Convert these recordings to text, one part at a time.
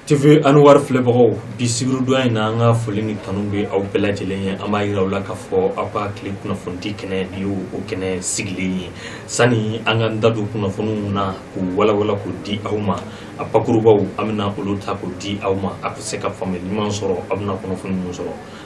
TV Anwar filɛbagaw bi sibiridon in na an ka foli ni tanu bɛ aw bɛɛ lajɛlen ye an b'a jira aw la k'a fɔ aw ka tile kunnafonidi kɛnɛ nin y'o o kɛnɛ sigili ye sani an ka da don kunnafoniw na k'u walawala k'u di aw ma a bakurubaw an bɛna olu ta k'u di aw ma a bɛ se ka faamuyali ɲuman sɔrɔ aw bɛna kunnafoni minnu sɔrɔ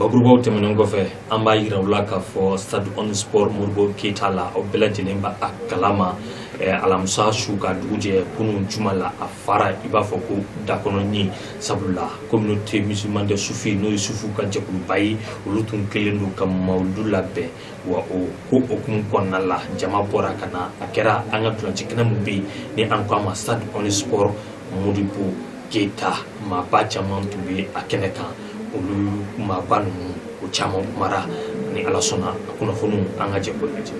bakurubaw tɛmɛnen kɔfɛ an b'a yira aw la k'a fɔ stade omnisports modibo keyita la aw bɛɛ lajɛlen b'a kalama eh, alamisa su ka dugu jɛ kunun juma la a fara i b'a fɔ ko dakɔnɔni sabula communauté musulmane des soufis n'o ye sufuw ka jɛkuluba ye olu tun kɛlen don ka mawulidu labɛn wa o ko hukumu kɔnɔna la jama bɔra ka na a kɛra an ka ntolaci kɛnɛ min bɛ yen ni an ko a ma stade omnisports modibo keyita maaba caman tun bɛ a kɛnɛ kan olu maaba ninnu o caman kumara ni ala sɔnna a kunnafoniw an ka jɛ k'o lajɛ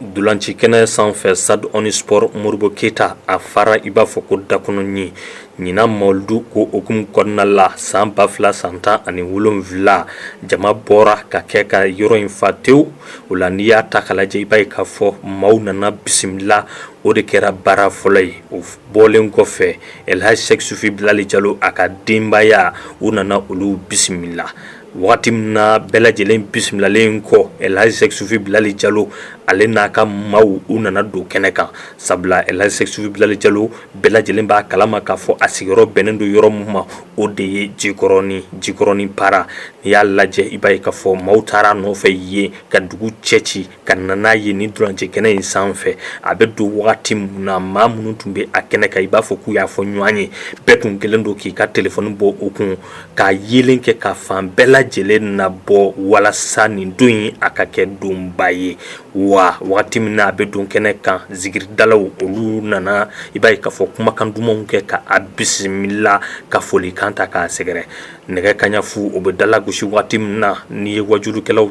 ntolacikɛnɛ sanfɛ stade omnisports modibo keyita a fara i b'a fɔ ko dakɔnɔni ɲinan mawulidu ko hukumu kɔnɔna la san ba fila san tan ani wolonwula jama bɔra ka kɛ ka yɔrɔ in fa tewu o la n'i y'a ta k'a lajɛ i b'a ye k'a fɔ maaw nana bisimila o de kɛra baara fɔlɔ ye o bɔlen kɔfɛ elihaji sɛki sufi bilali jalo a ka denbaya u nana olu bisimila Waati min na bɛɛ lajɛlen bisimilalen kɔ elihaji sɛki sufi bilali jalo ale n'a ka maaw u nana don kɛnɛ kan sabula elihaji sɛki sufi bilali jalo bɛɛ lajɛlen b'a kalama k'a fɔ a sigiyɔrɔ bɛnnen don yɔrɔ min ma o de ye jikɔrɔnin jikɔrɔnin para n'i y'a lajɛ i b'a ye k'a fɔ maaw taara a nɔfɛ yen ka dugu cɛci ka na n'a ye nin ntolaci kɛnɛ in sanfɛ a bɛ don wagati min na maa minnu tun bɛ a kɛnɛ kan i b'a fɔ k'u y'a fɔ ɲɔgɔn ye bɛɛ tun kɛlen don k'i ka telefɔni bɔ u kun k'a yeelen kɛ ka fan bɛɛ lajɛlen nabɔ walasa nin don in a ka kɛ donba ye wa wagati min a bɛ don kɛnɛ kan zikiridalaw olu nana i b'a ye k'a fɔ kumakan dumanw kɛ k'a bisimila ka foli kan ta k'a sɛgɛrɛ nɛgɛ kaɲafu o bɛ dala gosi wagati min na n'i ye waajulikɛlaw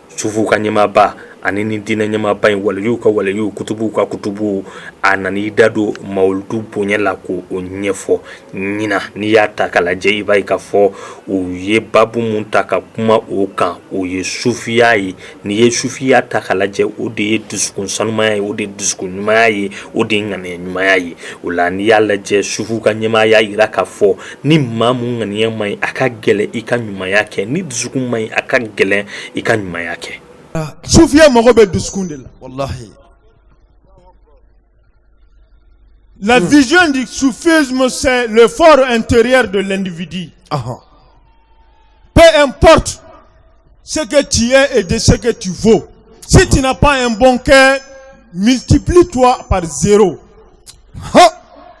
sufuw ka ɲɛmaaba ani nin diinɛ ɲɛmaaba in waliyuw ka waliyu kutubuw ka kutubu a nana i da don mawulidu bonya la k'o ɲɛfɔ ɲinan n'i y'a ta ka lajɛ i b'a ye k'a fɔ u ye baabu min ta ka kuma o kan o ye sufiya ye n'i ye sufiya ta ka lajɛ o de ye dusukun sanumanya ye o de ye dusukun ɲumanya ye o de ye ŋaniya ɲumanya ye o la n'i y'a lajɛ sufuw ka ɲɛmaa y'a jira k'a fɔ ni maa mun ŋaniya man ɲi a ka gɛlɛn i ka ɲumanya kɛ ni dusukun man ɲi a ka gɛlɛn i ka ɲumanya kɛ sufiya mago bɛ dusukun de la walahi La hmm. vision du soufisme, c'est le for intérieur de l'individu. Ah, ah. Peu importe ce que tu es et de ce que tu vaux. Si tu n'as pas un bon cœur, multiplie-toi par zéro.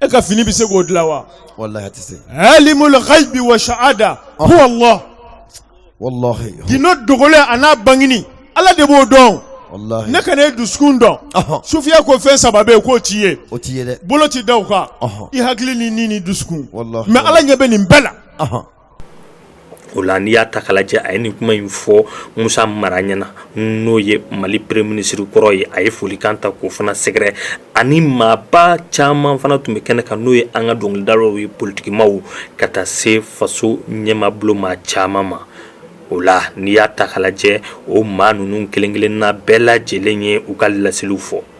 e ka fini bɛ se k'o dilan wa walahi a tɛ se alimul ghaibi wa shahada huwa Allah walahi gindo dogolen a n'a bangini Ala de b'o dɔn walahi ne ka ne dusukun dɔn sufiya ko fɛn saba bɛ yen k'o tɛ ye o tɛ ye dɛ bolo tɛ da o kan i hakili ni ni ni dusukun walahi mais Ala ɲɛ bɛ nin bɛɛ la. o la n'i y'a ta k'a lajɛ a ye nin kuma in fɔ musa mara ɲɛna n'o ye mali peremiye minisiri kɔrɔ ye a ye folikan ta k'o fana sɛgɛrɛ ani maaba caman fana tun bɛ kɛnɛ kan n'o ye an ka dɔnkilidalaw ye politikimaaw ka taa se faso ɲɛmaa bolomaa caman ma o la n'i y'a ta k'a lajɛ o maa ninnu kelen-kelenna bɛɛ lajɛlen ye u ka laseliw fɔ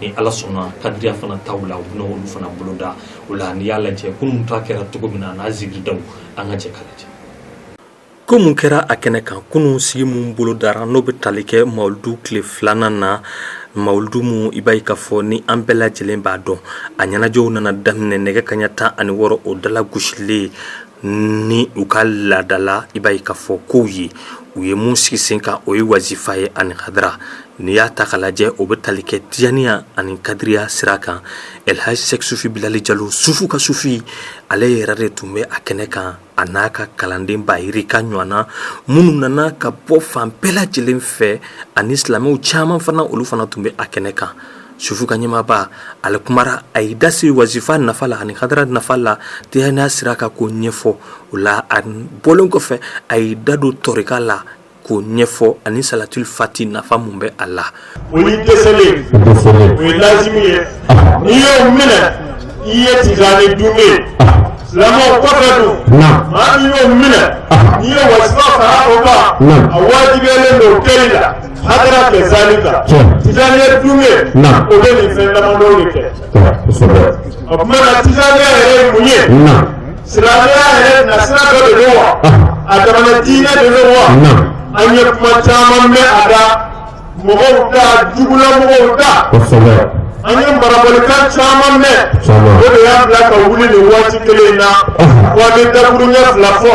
ni ala sɔnna kadiriya fana taw la u bɛna olu fana boloda o la n'i y'a lajɛ kunun ta kɛra cogo min na n'a zikiridaw an ka jɛ k'a lajɛ ko mun kɛra a kɛnɛ kan kunun sigi mun bolodara n'o bɛ tali kɛ mawuludu tile filanan na mawuludu mun i b'a ye k'a fɔ ni an bɛɛ lajɛlen b'a dɔn a ɲɛnajɛw nana daminɛ nɛgɛ kaɲa tan ani wɔɔrɔ o dala gosilen ni u ka laadala i b'a ye k'a fɔ kow ye u ye mun sigi sen kan o ye wazifa ye ani hadara n'i y'a ta k'a lajɛ o bɛ tali kɛ tijaniya ani kadiriya sira kan lhaji sɛki sufi bilali jalo sufu ka sufi ale yɛrɛ de tun bɛ a kɛnɛ kan a n'a ka kalanden ba yirika ɲɔgɔn na minnu nana ka bɔ fan bɛɛ lajɛlen fɛ ani silamɛw caman fana olu fana tun bɛ a kɛnɛ kan Sufu ka ɲɛmaaba ale kumara a y'i da se wazifa nafa la ani hadara nafa la tijaniya sira kan k'o ɲɛfɔ o la a bɔlen kɔfɛ a y'i da don tɔrika la k'o ɲɛfɔ ani salatul fati nafa mun bɛ a la o ye lazimu ye n'i y'o minɛ i ye tijani dun lamɔ kɔfɛ don maa min y'o minɛ n'i ye wazifa fara o kan a wajibiyalen don kɛ la hadara kɛ zalika tijaniya dun ye o bɛ nin fɛn damadɔ de kɛ o tuma na tijaniya yɛrɛ ye mun ye silamɛya yɛrɛ na sira dɔ de don wa a damana diinɛ de don wa an ye kuma caman mɛn a da mɔgɔw da jugula mɔgɔw da an ye marabalikan caman mɛn o de y'a bila ka wuli nin waati kelen in na wa an bɛ dakuruɲɛ fila fɔ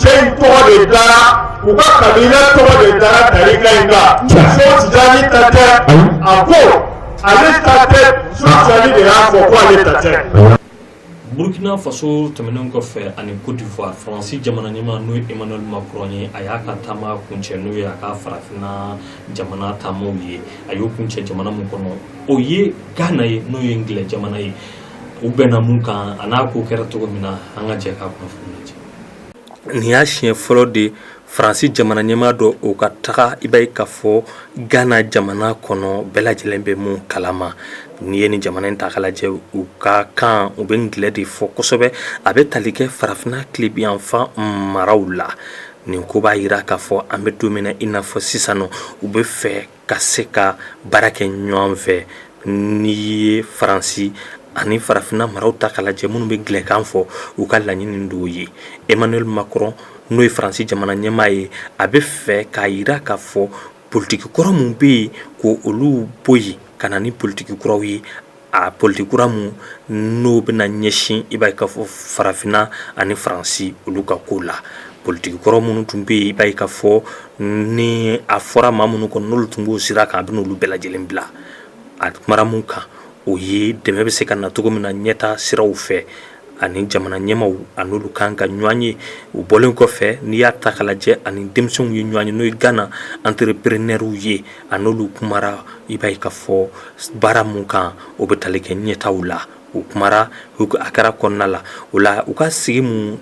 cɛ in tɔgɔ de dara u ka kabila tɔgɔ de dara tarika in kan so tijani ta tɛ a ko ale ta tɛ so tijani de y'a fɔ ko ale ta tɛ. burkina faso tɛmɛnen kɔfɛ ani côte d'ivoire faransi jamana ɲɛmaa n'o ye emmanuel macron ye a y'a ka taama kuncɛ n'o ye a ka farafinna jamana taamaw ye a y'o kuncɛ jamana min kɔnɔ o ye ghana ye n'o ye ngilɛ jamana ye u bɛnna mun kan a n'a ko kɛra cogo min na an ka jɛ k'a kunnafoni lajɛ nin y'a siɲɛ fɔlɔ de faransi jamana ɲɛmaa dɔ o ka taga i b'a ye k'a fɔ ghana jamana kɔnɔ bɛɛ lajɛlen bɛ min kalama n'i ye nin jamana in ta k'a lajɛ u ka kan u bɛ ngilɛ de fɔ kosɛbɛ a bɛ tali kɛ farafinna tilebinyanfan maraw la nin ko b'a jira k'a fɔ an bɛ don min na i n'a fɔ sisan nɔ u bɛ fɛ ka se ka baara kɛ ɲɔgɔn fɛ n'i ye faransi ani farafinna maraw ta k'a lajɛ minnu bɛ ngilɛkan fɔ u ka laɲini dɔw ye emmanuel macron n'o ye faransi jamana ɲɛmaa ye a bɛ fɛ k'a jira k'a fɔ politiki kɔrɔ minnu bɛ yen ko olu bɔ yen ka na ni politiki kuraw ye a politiki kura min n'o bɛna ɲɛsin i b'a ye k'a fɔ farafinna ani faransi olu ka ko la politiki kɔrɔ minnu tun bɛ yen i b'a ye k'a fɔ ni a fɔra maa minnu kɔnɔ n'olu tun b'o sira kan a bɛna olu bɛɛ lajɛlen bila a kumara mun kan o ye dɛmɛ bɛ se ka na cogo min na ɲɛta siraw fɛ ani jamana ɲɛmaaw ani olu kan ka ɲɔgɔn ye u bɔlen kɔfɛ n'i y'a ta k'a lajɛ ani denmisɛnw ye ɲɔgɔn ye n'o ye ghana entrepreneurw ye a n'olu kumara i b'a ye k'a fɔ baara min kan o bɛ tali kɛ ɲɛtaw la u kumara a kɛra kɔnɔna la o la u ka sigi min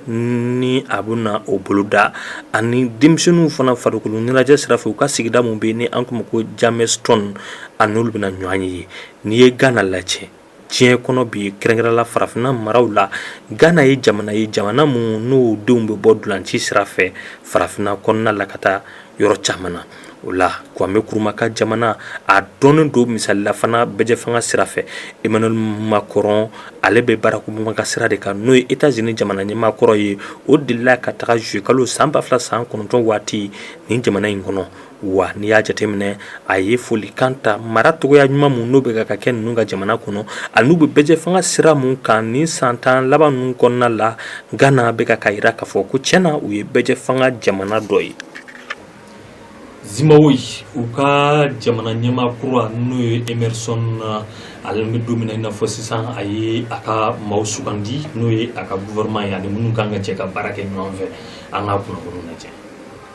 ni a bɛna o boloda ani denmisɛnw fana farikolo ɲɛnajɛ sira fɛ u ka sigida min bɛ ni an k'a ma ko jamestown a n'olu bɛna ɲɔgɔn ye n'i ye ghana lajɛ diɲɛ kɔnɔ bi kɛrɛnkɛrɛnla farafinna maraw la ghana ye jamana ye jamana min n'o denw bɛ bɔ dilanci sira fɛ farafinna kɔnɔna la ka taa yɔrɔ caman na o la kwame nkrumah ka jamana a dɔnnen don misali la fana bɛɛjɛ fanga sira fɛ emmanuel macron ale bɛ barack obama ka sira de kan n'o ye états-unis jamana ɲɛmaa kɔrɔ ye o delila ka taga juillet kalo san ba fila san kɔnɔntɔn waati nin jamana in kɔnɔ wa n'i y'a jateminɛ a ye folikan ta mara cogoya ɲuman min n'o bɛ ka kɛ ninnu ka jamana kɔnɔ ani n'u bɛ bɛɛjɛ fanga sira min kan nin san tan laban ninnu kɔnɔna la ghana bɛ ka k'a jira k'a fɔ ko tiɲɛ na u ye bɛɛjɛ fanga jamana dɔ ye zimbabwe u ka jamana ɲɛmaa kura n'o ye emerson ale bɛ don min na i n'a fɔ sisan a ye a ka maaw sugandi n'o ye a ka gouvernement ye ani minnu kan ka jɛ ka baara kɛ ɲɔgɔn fɛ an ka kunnafoni lajɛ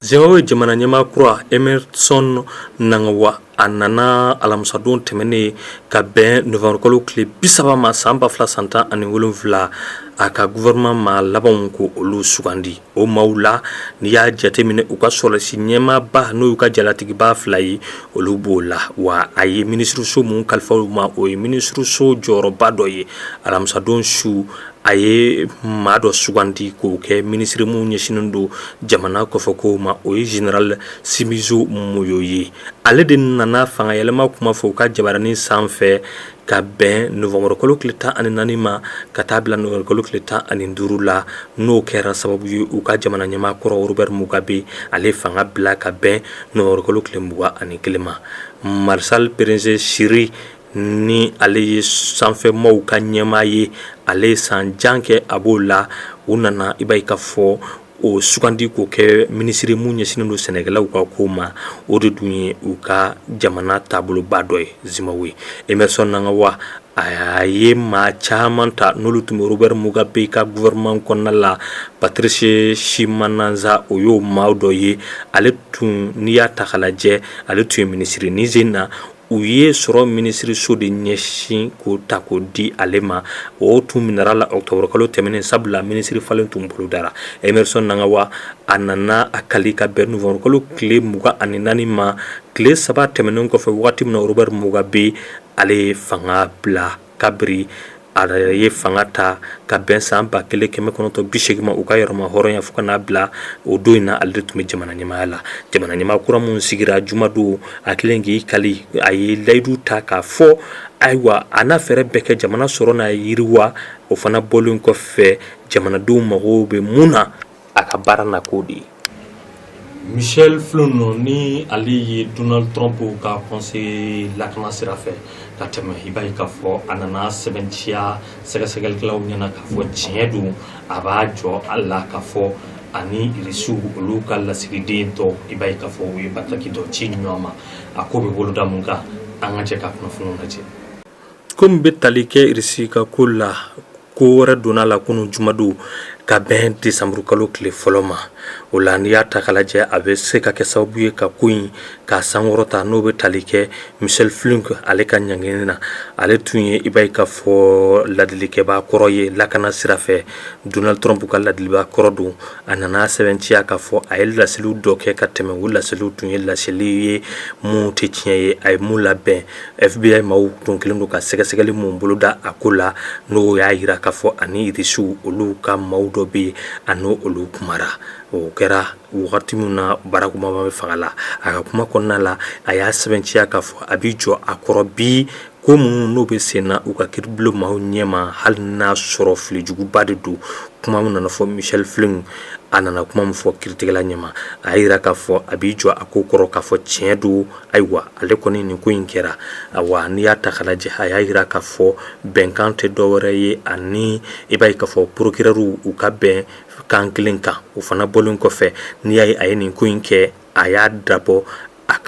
Zimbabwe jamana ɲɛmaa kura Emerson Mnangagwa a nana alamisadon tɛmɛnen ka bɛn novanburukalo tile bi saba ma san ba fila san tan ani wolonwula a ka gouvernement maa labanw ko olu sugandi o maaw la n'i y'a jateminɛ u ka sɔrɔsi ɲɛmaaba n'o y'u ka jalatigiba fila ye olu b'o la wa a ye minisiriso mun kalifa u ma o ye minisiriso jɔyɔrɔba dɔ ye alamisadon su A ye maa dɔ sugandi k'o kɛ minisiri mun ɲɛsinnen don jamana kɔfɛ kow ma o ye général Sibusiso Moyo ye ale de nana fanga yɛlɛma kuma fɔ u ka jabaranin sanfɛ ka bɛn novanburukalo tile tan ani naani ma ka taa bila novanburukalo tile tan ani duuru la n'o kɛra sababu ye u ka jamana ɲɛmaa kɔrɔ Robert Mugabe ale fanga bila ka bɛn novanburukalo tile mugan ani kelen ma Marshal Perence Shiri ni ale ye sanfɛ maaw ka ɲɛmaa ye ale ye san jan kɛ a b'o la u nana i b'a ye k'a fɔ o sugandi k'o kɛ minisiri mun ɲɛsinnen don sɛnɛkɛlaw ka ko ma o de dun ye u ka jamana taaboloba dɔ ye Zimbabwe Emerson Mnangagwa a ye maa caman ta n'olu tun bɛ Robert Mugabe ka gouvernement kɔnɔna la Patrice Chinamasa o y'o maa dɔ ye ale tun n'i y'a ta k'a lajɛ ale tun ye minisiri ni sen na u ye sɔrɔ minisiriso de ɲɛsin k'o ta k'o di ale ma o tun minɛra la ɔkutɔburukalo tɛmɛnen sabula minisiri falen tun bolodara Emerson Mnangagwa a nana a kali ka bɛn novanburukalo tile mugan ani naani ma tile saba tɛmɛnen kɔfɛ waati min na Robert Mugabe ale ye fanga bila kabiri a ye fanga ta ka bɛn san ba kelen kɛmɛ kɔnɔntɔn bi segin ma u ka yɛrɛma hɔrɔnya fo ka n'a bila o don in na ale de tun bɛ jamana ɲɛmaaya la jamana ɲɛmaa kura mun sigira jumadon a kɛlen k'i kali a ye layidu ta k'a fɔ ayiwa a n'a fɛɛrɛ bɛɛ kɛ jamana sɔrɔ n'a yiriwa o fana bɔlen kɔfɛ jamanadenw mago bɛ mun na a ka baara na k'o de ye Michel Flynn ni ale ye Donald Trump ka conseiller lakana sira fɛ ka tɛmɛ i b'a ye k'a fɔ a nana sɛbɛntiya sɛgɛsɛgɛlikɛlaw ɲɛna k'a fɔ tiɲɛ don a b'a jɔ a la k'a fɔ ani irisiw olu ka lasigiden tɔ i b'a ye k'a fɔ u ye bataki dɔ ci ɲɔgɔn ma a ko bɛ boloda mun kan an ka jɛ ka kunnafoniw lajɛ ko min bɛ tali kɛ irisi ka ko la ko wɛrɛ donna la kunun jumadon ka bɛn desanburukalo tile fɔlɔ ma o la n'i y'a ta k'a lajɛ a bɛ se ka kɛ sababu ye ka ko in k'a sankɔrɔta n'o bɛ tali kɛ Michel Flynn ale ka ɲangini na ale tun ye i b'a ye k'a fɔ ladilikɛbaa kɔrɔ ye lakana sira fɛ Donald Trump ka ladilibaa kɔrɔ don a nana sɛbɛntiya k'a fɔ a ye laseliw dɔ kɛ ka tɛmɛ o laseliw tun ye laseli ye mun tɛ tiɲɛ ye a ye mun labɛn fbi maaw tun kɛlen don ka sɛgɛsɛgɛli min boloda a ko la n'o y'a jira k'a fɔ ani irisiw olu ka maaw dɔ bɛ yen a n' olu kumara o kɛra wagati min na barack obama bɛ fanga la a ka kuma kɔnɔna la a y'a sɛbɛntiya k'a fɔ a b'i jɔ a kɔrɔ bi ko minnu n'u bɛ sen na u ka kiiribulon maaw ɲɛma hali n'a sɔrɔ filijuguba de don kuma min nana fɔ michael flynn a nana kuma min fɔ kiiritigɛla ɲɛma a y'a jira k'a fɔ a b'i jɔ a ko kɔrɔ k'a fɔ tiɲɛ don Ayiwa ale kɔni nin ko in kɛra awa n'i y'a ta k'a lajɛ a y'a jira k'a fɔ bɛnkan tɛ dɔ wɛrɛ ye ani i b'a ye k'a fɔ procureurw u ka bɛn kan kelen kan u fana bɔlen kɔfɛ n'i y'a ye a ye nin ko in kɛ a y'a dabɔ a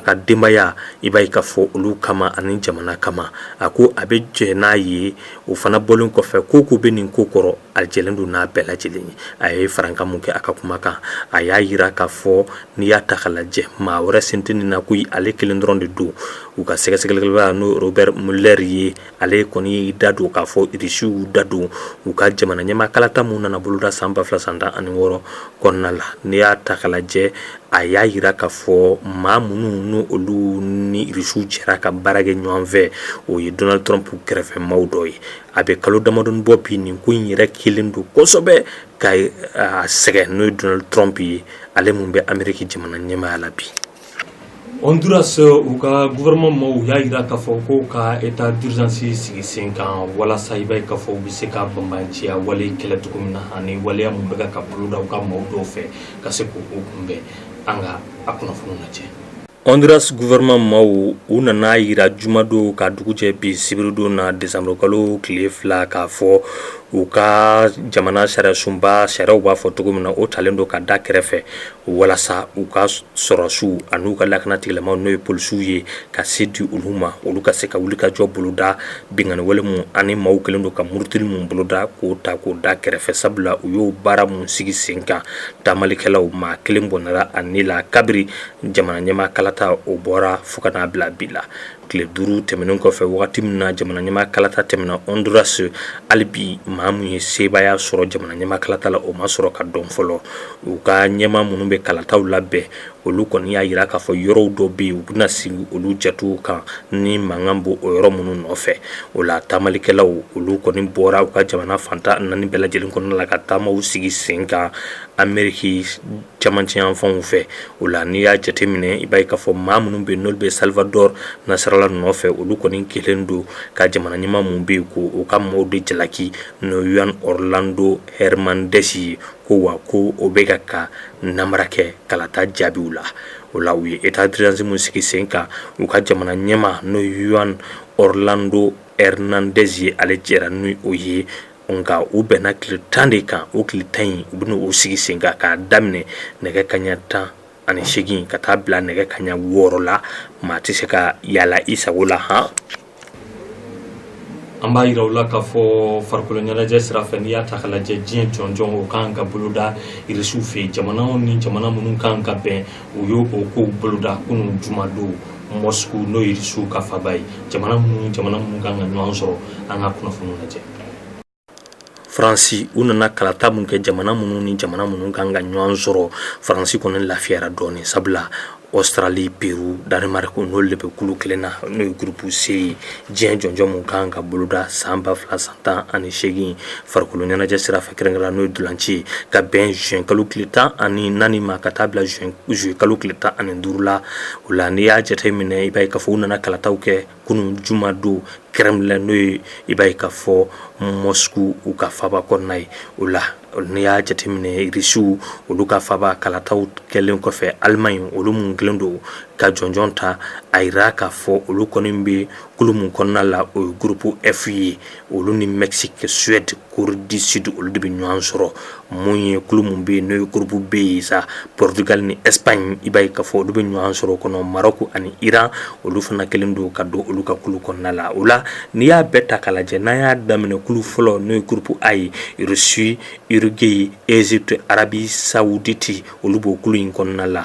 ka denbaya i b'a ye k'a fɔ olu kama ani jamana kama a ko a bɛ jɛ n'a ye u fana bɔlen kɔfɛ ko o ko bɛ nin ko kɔrɔ a jɛlen don n'a bɛɛ lajɛlen ye a ye farankan mun kɛ a ka kuma kan a y'a jira k'a fɔ n'i y'a ta k'a lajɛ maa wɛrɛ sen tɛ nin na ko ale kelen dɔrɔn de don u ka sɛgɛsɛgɛlikɛla n'o robert mueller ye ale kɔni y'i da don k'a fɔ irisiw da don u ka jamana ɲɛmaa kalata min nana boloda san ba fila san tan ani wɔɔrɔ kɔnɔna la n'i y'a ta k'a lajɛ a y'a jira k'a fɔ maa minnu n' olu ni irisiw jɛra ka baara kɛ ɲɔgɔn fɛ o ye donald trump kɛrɛfɛmaaw dɔ ye a bɛ kalo damadɔni bɔ bi nin ko in yɛrɛ kɛlen don kosɛbɛ k'a sɛgɛn n'o ye donald trump ye ale min bɛ ameriki jamana ɲɛmaaya la bi honduras u ka gouvernement maaw y'a jira k'a fɔ ko ka état d'urgence sigi sen kan walasa i b'a ye k'a fɔ u bɛ se ka banbaanciya wale kɛlɛ cogo min na ani waleya minnu bɛ ka boloda u ka maaw dɔw fɛ ka se k' u kunbɛn an ka a kunnafoni lajɛ Hɔndurasi gouvernement maaw, u nan'a jira jumadon ka dugu jɛ bi sibiridon na dɛsanburukalo tile fila k'a fɔ u ka jamana sariyasunba sariyaw b'a fɔ cogo min na, o talen don k'a da kɛrɛfɛ walasa u ka sɔrɔdasiw an'u ka lakana tigilamaw n'o ye polisiw ye ka se di olu ma, olu ka se ka wulikajɔ boloda binkanni wale minnu ani maaw kɛlen don ka murutili minnu boloda k'o ta k'o da kɛrɛfɛ sabula u y'o baara minnu sigi sen kan taamalikɛlaw maa kelen bɔnɛra a ni la kabiri jamana ɲɛmaa kalata o bɔra fo ka n'a bila bi la tile duuru tɛmɛnen kɔfɛ wagati min na jamana ɲɛmaa kalata tɛmɛna honduras hali bi maa min ye sebaaya sɔrɔ jamana ɲɛmaa kalata la o ma sɔrɔ ka dɔn fɔlɔ u ka ɲɛmaa minnu bɛ kalataw labɛn olu kɔni y'a jira k'a fɔ yɔrɔw dɔ bɛ yen u bɛna segin olu jate kan ni mankan b'o yɔrɔ minnu nɔfɛ o la taamalikɛlaw olu kɔni bɔra u ka jamana fan tan naani bɛɛ lajɛlen kɔnɔna la ka taamaw sigi sen kan ameriki camancɛ yanfanw fɛ o la n'i y'a jateminɛ i b'a ye k'a fɔ maa minnu bɛ n'olu bɛ salvador nasralla nɔfɛ olu kɔni kɛlen don ka jamana ɲɛmaa mun bɛ yen ko u ka maa o de jalaki n'o juan orlando hernandez ye ko wa ko o bɛ ka ka nanbara kɛ kalata jaabiw la o la u ye état d'urgence mun sigi sen kan u ka jamana ɲɛmaa n'o juan orlando hernandez ye ale jɛra ni o ye Nka u bɛnna tile tan de kan o tile tan in u bɛna o sigi sen kan k'a daminɛ nɛgɛ kaɲa tan ani seegin ka taa bila nɛgɛ kaɲa wɔɔrɔ la maa tɛ se ka yaala i sago la han an b'a jira aw la k'a fɔ farikolo ɲɛnajɛ sira fɛ n'i y'a ta k'a lajɛ diɲɛ jɔnjɔn o kan ka boloda irisiw fɛ jamanaw ni jamana minnu kan ka bɛn u y'o kow boloda kunun jumadon moscou n'o ye irisiw ka faba ye jamana minnu ni jamana minnu kan ka ɲɔgɔn sɔrɔ an ka kunnafoniw lajɛ faransi u nana kalata mun kɛ jamana minnu ni jamana minnu kan ka ɲɔgɔn sɔrɔ faransi kɔni lafiyara dɔɔnin sabula australie peru danemark n'olu de bɛ kulu kelen na n'o ye groupe C ye diɲɛ jɔnjɔn mun kan ka boloda san ba fila san tan ani seegin Farikolo ɲɛnajɛ sira fɛ kɛrɛnkɛrɛnnenya la n'o ye ntolanci ye ka bɛn juin kalo tile 14 ma ka taa bila juin kalo tile 15 la, o la n'i y'a jate minɛ i b'a ye k'a fɔ u nana kalataw kɛ kunun juma don Kremlin la n'o ye i b'a ye k'a fɔ Moscou u ka faaba kɔnɔna ye, o la n'i y'a jate minɛ Russie olu ka faaba kalataw kɛlen kɔfɛ Allemagne olu minnu kɛlen don ka jɔnjɔn ta, a jira k'a fɔ olu kɔni bɛ kulu min kɔnɔna la o ye groupe F ye. olu ni bɛ se ka sudi koridisidi olu de bɛ ɲɔgɔn sɔrɔ mun ye kulu mun bɛ yen n'o ye groupe B ye sa portugal ni espagne i b'a ye k'a fɔ olu bɛ ɲɔgɔn sɔrɔ kɔnɔ maroc ani iran olu fana kɛlen don ka don olu ka kulu kɔnɔna la o la n'i y'a bɛɛ ta k'a lajɛ n'an y'a daminɛ kulu fɔlɔ n'o ye groupe A ye russie uruguay égypte arabie saoudite olu b'o kulu in kɔnɔna la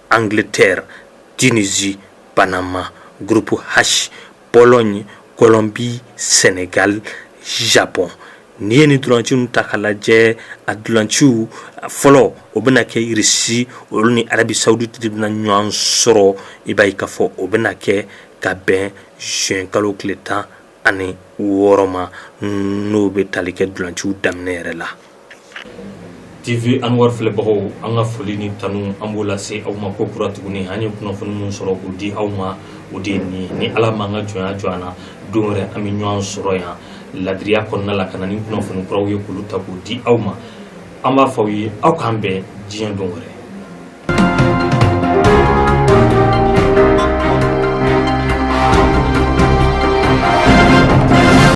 Angleterre, Tunisie, Panama, groupe H, Pologne, Colombie, Sénégal, Japon. N'i ye nin dulanciw ninnu ta k'a lajɛ a dulanciw fɔlɔ o bɛna kɛ Irisi olu ni Arabi Sawuditi de bɛna ɲɔgɔn sɔrɔ i b'a ye k'a fɔ o bɛna kɛ ka bɛn juin kalo tile tan ani wɔɔrɔ ma n'o bɛ tali kɛ dulanciw daminɛ yɛrɛ la. TV Anwar filɛbagaw an ka foli ni tanu an b'o lase aw ma ko kura tuguni an ye kunnafoni min sɔrɔ k'o di aw ma o de ye nin ni ala m'an ka jɔnya jɔ an na don wɛrɛ an bɛ ɲɔgɔn sɔrɔ yan ladiriya kɔnɔna la ka na ni kunnafoni kuraw ye k'olu ta k'o di aw ma an b'a fɔ aw ye aw k'an bɛn diɲɛ don wɛrɛ